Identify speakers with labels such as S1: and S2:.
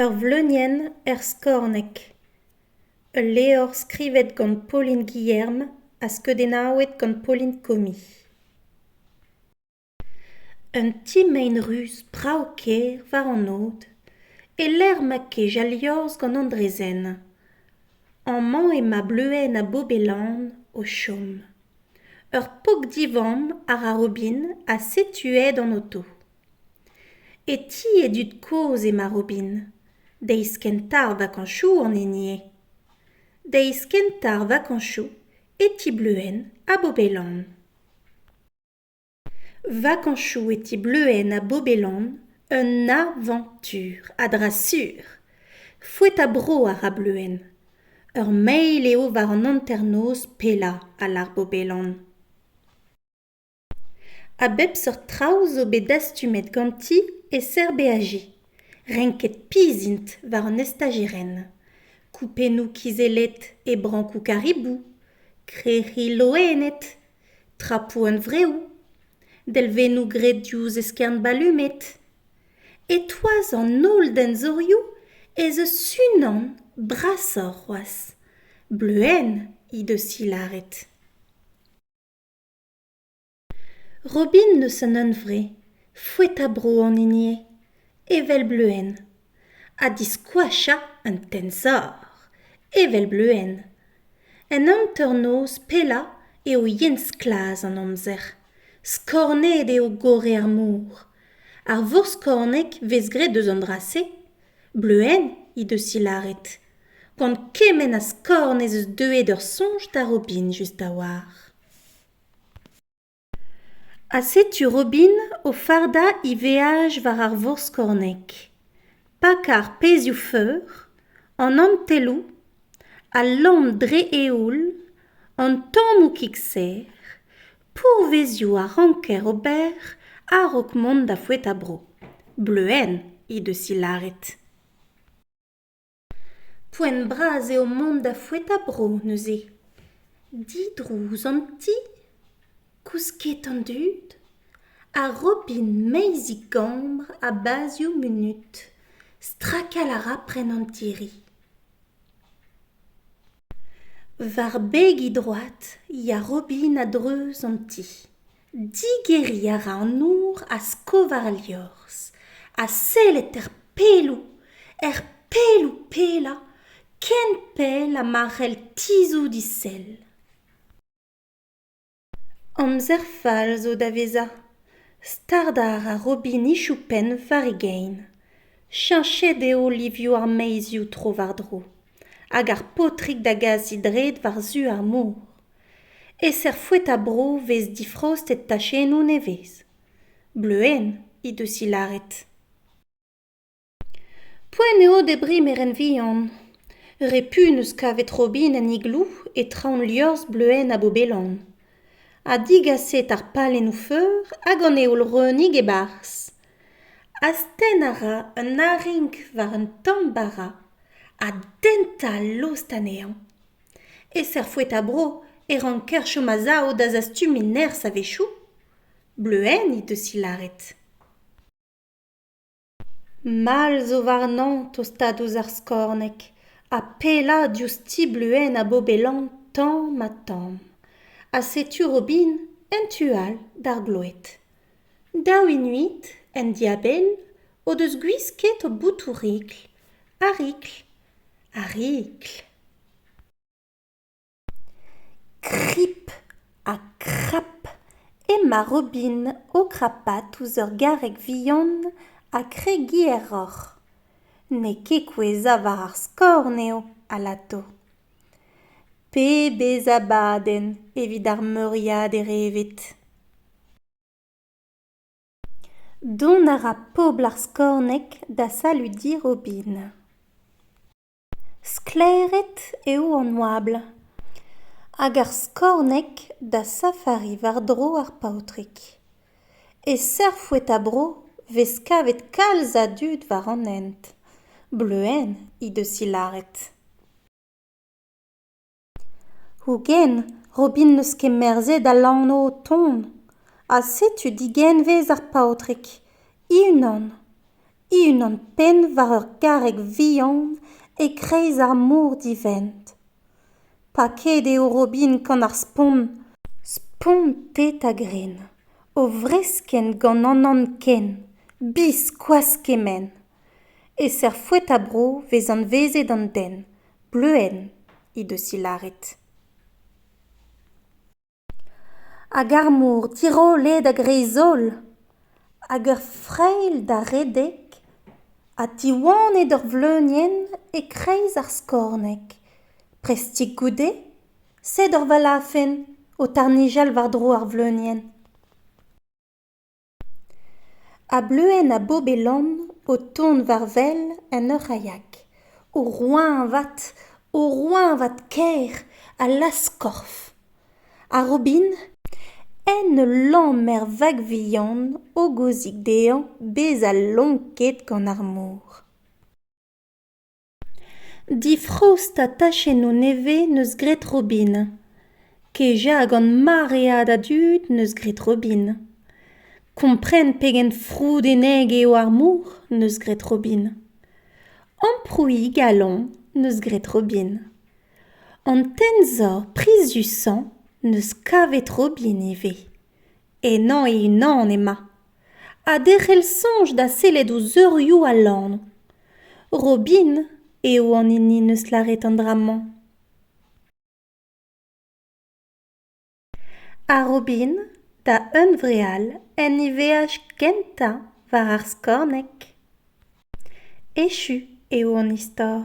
S1: ur vleunienn er skorneg ul levr skrivet gant pauline guilherme ha skeudennaouet gant pauline comi un ti mein ruz brav-kaer war an od e-lec'h ma kej al liorzh gant an draezhenn amañ emañ bleuenn ha bobelan o chom ur pok-divamm àr ar robin ha setu aet an oto E ti e dud kozh emañ Robin. Deiz kentañ ar vakañsoù an hini eo. Deiz kentañ ar vakañsoù e ti Bleuhen ha Bobelan. Vakañsoù e ti Bleuhen ha Bobelan un avañtur a dra sur. Foet a-bro a ra Bleuhen. Ur mail eo war an hanternoz pellañ a lar Bobelan. A bep seurt traoù zo bet dastumet ganti e-ser BAJ. Renket pizh int war an estajirenn. Koupennoù kizellet e brankoù karibou, krec'hi loened, trapoù hunvreoù, delvennoù graet diouzh eskern balumed. E-toaz an holl denzorioù ez eus unan brasoc'h c'hoazh. Bleuenn he deus he lâret. Robin n'eus an hunvre, foet ha bro an hini eo, evel Bleuenn, ha diskoachañ un tensor, evel Bleuenn. En hanternoz pellañ eo yen sklaz an amzer, skornet eo gorre ar mor. Ar vorskorneg 'vez graet eus an dra-se, Bleuenn he deus he lâret, gant kement a skorn ez eus deuet ur soñj da Robin just a-walc'h. Ha setu Robin o fardañ he veaj war ar vorskorneg, pakañ ar pezhioù-feur, an antelloù, al lamm dre eoul, an tammoù kig-serr, pourvezioù a ranker ober a-raok mont da foetañ bro. Bleuenn he deus he lâret. Poent bras eo mont da foetañ-bro neuze. Didrouz an ti, kousket an dud, ha robin meizik-gambr ha bazioù munut. Strakal a ra prenn an tiri. War begi droad 'ya robin a-dreuz an ti. Digeriñ a ra an nour a-skovar al liorzh ha sellet er pelloù, er pelloù-pellañ ken pell ha ma c'hell tizhout he sell. Amzer fall zo da vezañ. Stardañ a ra robinichoù penn war e gein. Cheñchet eo livioù ar maezioù tro-war-dro hag ar paotrig da gasiñ dred war-zu ar mor. E-ser foetañ-bro 'vez difraostet tachennoù nevez. Bleuenn he deus he lâret. Poent eo debriñ merenn vihan. Repu 'neus kavet robinenn igloo e traoñ liorzh Bleuenn ha Bobelan. Ha digaset ar palennoù-feur hag an heol-reunig e-barzh. Astenn a ra un arink war un tamm bara ha dentañ lost anezhañ. E-ser foeta-bro e ranker chom a-sav da zastumiñ nerzh a-wechoù ? Bleuenn he deus he lâret. Mall zo warnañ tostaat ouzh ar skorneg ha pellañ diouzh ti Bleuenn ha Bobelan tamm ha tamm. Ha setu Robin en tu all d'ar gloed. Daou inuit, en dibenn, o deus gwisket o boutoù-rikl, ar rikl, ar rikl. Krip ha krap emañ Robin o krapat ouzh ur garreg vihan ha kregiñ aeroc'h. N'eo ket kouezhañ war ar skorn eo alato. Pe bez abadenn evit ar meuriader evet. Dont a ra pobl ar Skorneg da saludiñ Robin. Sklaeret eo an oabl hag ar Skorneg da safariñ war-dro ar paotrig. E Serfoueta-bro 'vez kavet kalz a dud war an hent. Bleuenn he deus he lâret. Hogen, Robin n'eus ket merzet al lanv o tont. Ha setu digenvez ar paotrig, he-unan. e-unan penn war ur garreg vihan e-kreiz ar mor divent paket eo Robin gant ar spont spontet a-grenn o vreskenn gant an anken biskoazh kement e-ser foeta-bro vez anvezet an den bleuenn he deus he lâret Hag ar mor tirollet a-greiz-holl, hag ur frailh da redek ha tiwanet ur vleunienn e-kreiz ar skorneg. Prestik goude, sed ur valafenn o tarnijal war-dro ar vleunienn. a-bleuenn ha bob-e-lann o tont war wel en ur c'haiak o roeñvad o roeñvad kaer a lazh-korf ha robin en ul lammer vak vihan hogozik dezhañ bezañ lonket gant ar mor Difrost ha tachennoù nevez 'neus graet Robin. Kejañ gant maread a dud 'neus graet Robin. Kompren pegen froudenneg eo ar mor 'neus graet Robin. Amprouiñ galon 'neus graet Robin. An tensor priziusañ 'neus kavet Robin ivez. Ennañ e-unan emañ. ha derc'hel soñj da sellet ouzh eurioù al lanv robin eo an hini 'neus lâret an dra-mañ ha robin da hunvreal en e veaj gentañ war ar skorneg echu eo an istor